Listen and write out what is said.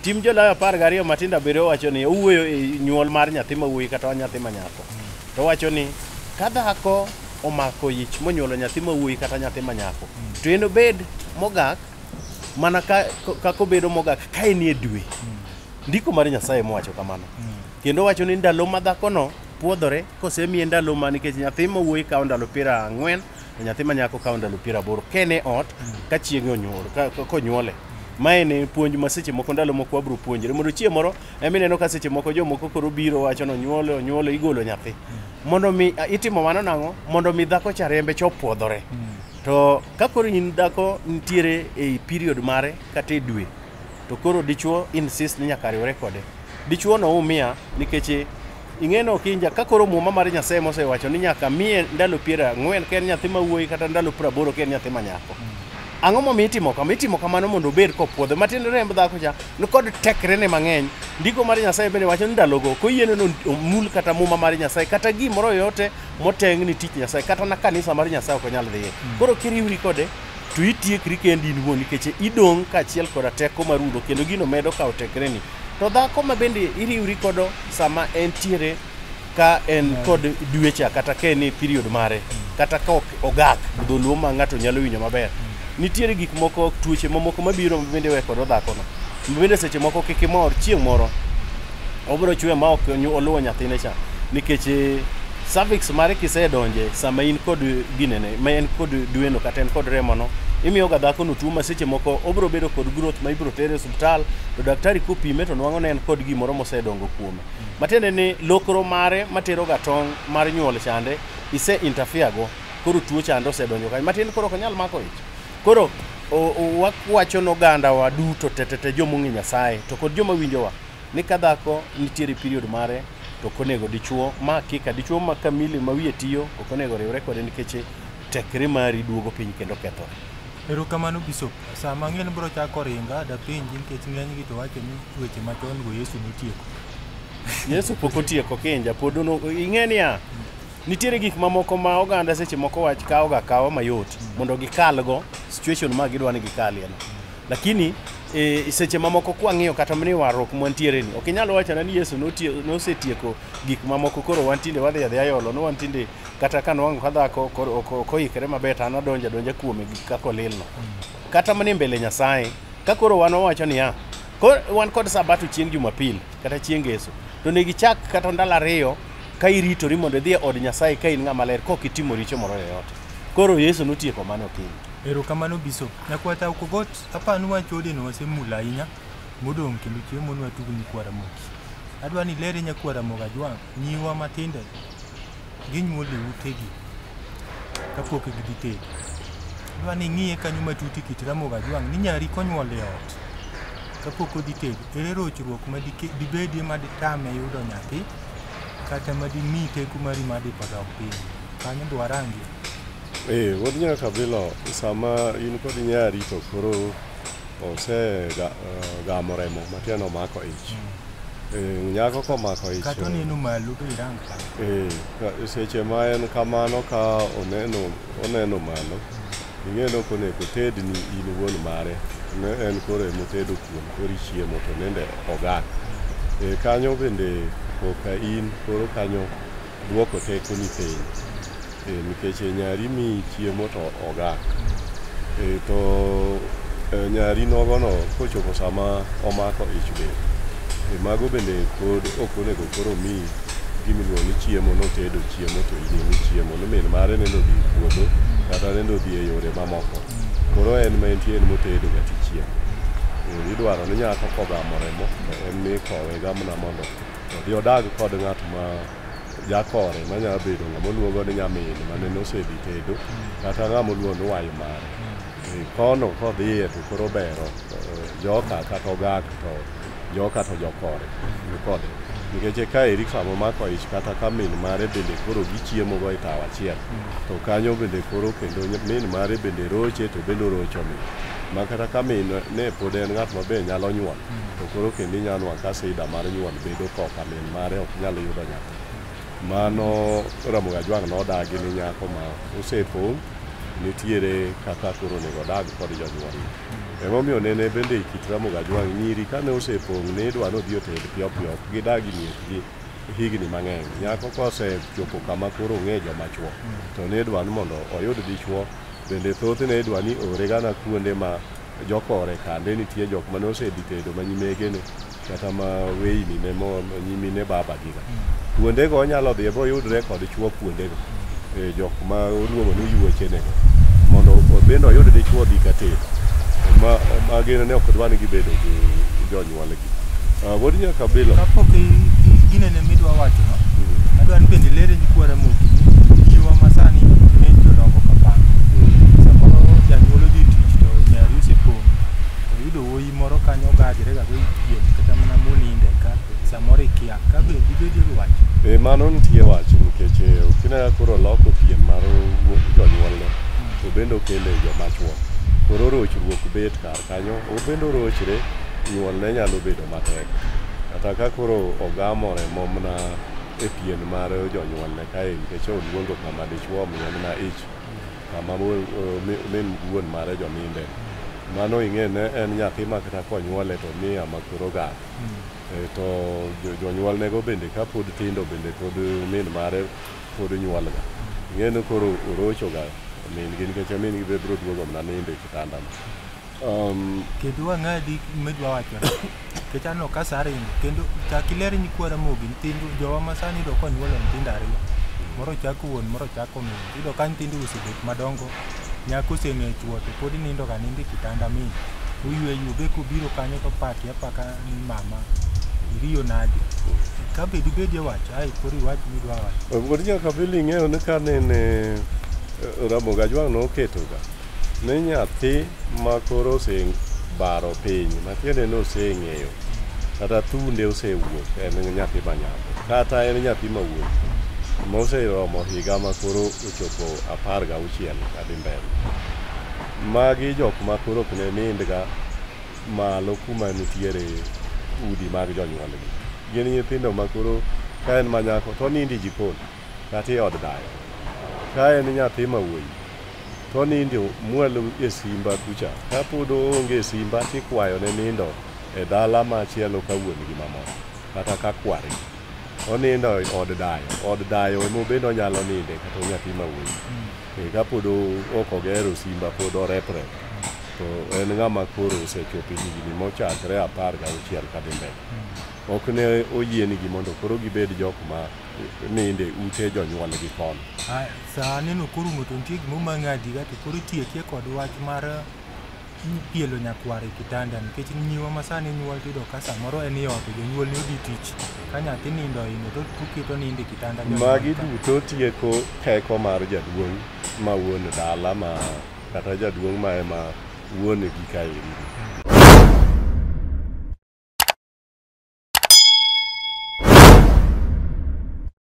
Tim jolayo apar gariyo matindo abiriyo wacho ni owuoyo e nyuol mar nyathi ma wuoyi kata nyathi ma nyako. To wacho ni ka dhako omako ich monyuolo nyathi ma wuoyi kata nyathi ma nyako to en obed mogak mana ka kaka obedo mogak ka en e dwe. Ndiko mar Nyasaye mowacho kamano. Kendo wacho ni ndalo ma dhakono puodhore kosemiye ndalo ma nikech nyathi ma wuoyi kawo ndalo piero ang'wen to nyathi ma nyako kawo ndalo piero aboro kene ot ka chieng'e onyuol ka- ka- konyuole mae ne puonj ma seche moko ndalo moko wabiro puonjre mondo chieng' moro ema ineno ka seche moko jomoko koro biro wacho ni onyuole onyuole igolo nyathi mondo mi a, itimo mano nang'o mondo mi dhako cha rembe cha opuodhore to ka koro in dhako nitiere ei period mare kata e dwe to koro dichuo insist ni nyaka riwre kode. Dichuo no umia nikech ing'eno kinja ka koro muma mar Nyasaye mosewacho ni nyaka miye ndalo piero ang'wen ka en nyathi ma wuoyi kata ndalo piero aboro ka en nyathi ma nyako. Ang'o momiyo itimo kama? Itimo kamano mondo obed kopwodhe. Matiende remb dhako cha nikod tekrene mang'eny. Ndiko mar Nyasaye bende wacho ni ndalogo koyiene no omul kata muma mar Nyasaye kata gimoro yoyote motengni tich Nyasaye kata na kanisa mar Nyasaye ok onyal dhiye. Koro kiriwri kode to itiekri kendi in wuon nikech idong' kaachiel koda teko mar rudo kendo gino medo kawo tekreni to dhako ma bende iriwri kodo sama entiere ka en kod dwecha kata ka en e period mare kata ka ok ogak dholuo ma ng'ato nyalo winjo maber nitiere gik moko tuoche mamoko mabiro ma bende we kodo dhakono ma bende seche moko kik imor chieng' moro obiro chwe ma ok nyu- oluwo nyathine cha nikech eh, cervix mare kisedonje sama in kod ginene ma en kod dweno kata en kod remono imiyoga dhakono tuo ma seche moko obiro bedo kod growth ma ibiro tere e osiptal to daktari kopime to nwang'o ne en kod gimoro mosedongo kuome matiende ni lokro mare materoga tong' mar nyuol chande ise interfere go koro tuo chande osedonjo kanyo matiende koro ok onyal mako ich Koro wakwacho noganda wa duto tetete joma ong'e Nyasaye to kod joma winjowa ni ka dhako nitiere period mare to ok onego dichuo ma kika dichuo ma kamili ma wiye tiyo ok onego riwre kode nikech tekre mari duogo piny kendo kethore. Erokamano Bishop. Sama ng'eny bro chako ringa da piny nikech ng'eny gi to wacho ni weche machon go Yesu notieko. Yesu pok otieko kinja pod ing'e niya Nitiere gik mamoko ma oganda seche moko wach kawo ga kawo mayot mondo gikalgo situation ma gidwa ni gikalie no. Lakini e, seche mamoko kwang'iyo kata mni warruok mwantiere ni ok inyal wachona ni Yesu notie- nosetieko gik mamoko koro wan tinde wadhi adhi ayolo no wan tinde kata ka nwango ka dhako koro ok- ok oikre maber to an adonja donja kuome gi kaka olil no kata mani mbele Nyasaye ka koro wan wawacho niya ko- wan kod sabato chieng' Jumapil kata chieng' Ngeso to ne gichak kata ndalo ariyo ka iritori mondo idhi e od Nyasaye ka in ng'ama ler kok itimo richo moro yoyote. Koro Yesu notieko mano okinyi. Erokamano Bishop. Nyakwata Okogot, aparo ni wach odeno wasemula ahinya modong' kendo chiemo nwa tugo nyikwa Ramogi. Adwa ni ilere nyakwa Ramogi Ajwang' nyiwa matindo ginyuol e utegi kapok gidhi tedo. Adwa ni ing'iye kanyo matut e kit Ramogi Ajwang' ni nyari konyuol e ot kapok odhi tedo, ere rochruok ma dike- dibedie ma ditame yudo nyathi kata madimi teku mari madi padok piny kanyo be warangi ee eh, wuod nyaka bilo sama in kod nyari to koro osegamo eh, remo matiende omako ich hmm. eh, nyako komako ich kata oneno malo to irang ee seche ma en kamano ka oneno oneno malo Ing'e ni ok onego otedni in wuon mare, ne en koro ema otedo kuon koro ichiemo to nende ogan. E, kanyo bende koka in koro kanyo duoko teko ni piny e, nikech e, nyari mi chiemo to ogan. E, to e, nyari nogono kochopo sama omako ich bende e, mago bende pod ok onego koro mi gimiluongo ni chiemo notedo chiemo to idhi ni chiemo ni min mare nende odhi e puodho kata nende odhi e yore mamoko koro en ma entie en motedo ga tichiemo Eh, idwaro ni nyako kogamo remo to en ni kowe gamna mondo odhi odag kod ng'at ma jakore manyalo bedo ng'ama oluongo ni nyamin ma nene osedhi tedo kata ng'ama oluongo ni wayo mare Eh, kono kodhiye to koro bero eh, joka kata ogak to joka to jokore nikode nikech eka eri sama omako ich kata ka min mare bende koro gichiemo go e tawo achiel to kanyo bende koro kendo ny- min mare bende roche to bende orocho min ma kata ka min ne pod en ng'at maber nyalo nyuol to koro kendo inyalo nwa ka sida mar nyuol bedo koka min mare ok nyal yudo nyathi Mano Ramogi Ajwang' nodagi ni nyako ma osepong' nitiere kaka koro onego odag kod jonyuol. Emomiyo nene bende e kit Ramogi Ajwang' nyiri kane osepong' ne idwa nodhi oted piyopiyo ok gidag e miechgi higni mang'eny. Nyako kosechopo kama koro ong'e joma chwo to ne idwa ni mondo oyud dichwo bende thothne idwa ni oore gana kuonde ma jokore kande nitie jok mane osedhi tedo ma nyimegene kata ma weyni ne mo nyimine babagiga kuondego onyalo dhiye boyudre kod chwo kuondego e, jok ma oluongo ni yuochenego mondo o- bende oyud dichwo dhi katedo ma ma gin ne ok dwa ni gibedo gi jonyuolgi Ah, wuod nyaka bilo kapok i- i- ginene midwa wacho no adwa ni bende lere ni kwara moki jiwa masani ne jodongo kapanga samoro janyuol odhi tich to nyari osepong' oyudo wuoyi Ji moro kanyo ogajre ga go ipiem kata mana moninde ka samoro ikia ka be dibedi rwach. E mano nitie wach nikech eh, kineno koro loko piem mar wuok jonyuolne to bende okele joma chwo. Koro rochruok bet kar kanyo, obende orochre nyuolne nyalo bedo matek. Kata ka koro ogamo remo mana e pien mar jonyuolne kae nikech oluongo kama dichwo omiye mana ich. Mama min wuon mare joninde. Mano ing'e ne en nyathi ma kata konyuole to ni ama kuro gak. To jonyuolnego bende ka pod tindo bende pod min mare pod nyuolga. Ing'e ni koro orochoga min gi nikech min gi be biro duogo mana nindo e kitandano. Um, kendo wang'adi medwa wacho nikech aneno ka sa ringo kendo chak iler nyikwa Ramogi nyithindo jowa ma sani iyudo ka onyuolo nyithindo ariyo moro chako wuon moro chako min iyudo ka nyithindo osebet madongo nyako oseng'e chuo to pod nindo ga nindo e kitanda min uyweyo be kubiro kanyo to paki apaka ni mama iriyo nade ka be dibed e wach ai koro iwach midwa wacho Wuod nyaka Billy ing'eyo ni ka nene Ramogi Ajwang' noketoga Ne nyathi ma koro osebaro piny, matiende ni oseng'eyo, kata thunde osewuok, en nyathi ma nyako, kata en nyathi ma wuoyi moseromo higa ma koro ochopo apar gauchiel kadhi mbele. Magi jok ma koro ok ne nindga malo kuma nitiere udi mag jonyuolgi. Gin nyithindo ma koro ka en ma nyako to onindo e jikon kata e od dayo. Ka en nyathi ma wuoyi To nindo mwalo e simba kucha. Ka pod oonge simba tikwayo ne nindo e dala machielo ka wuon gi mamon kata ka kwari. Onindo e od dayo. Od dayo emo bende onyalo ninde kata nyathi ma wuoyi. E ka pod ok ogero simba pod orepre to en ng'ama koro osechopo higni mochakre apar ga auchiel ka dhi mbele. Ok ne oyienigi mondo koro gibed jok ma ninde ute jonyuolgi kono. Sa aneno koro ng'oto nitie gima omang'adi ga to koro itiekie kod wach mar pielo nyakwar e kitanda nikech nyiwa ma sani nyuol tiyudo ka samoro en e ot to jonyuol ni odhi tich ka nyathi nindo ohingo to tuketo nindo e kitanda jonyuol Magi ka. duto tieko teko mar jaduong' ma wuon dala ma kata jaduong' ma ema wuon gi kaeri.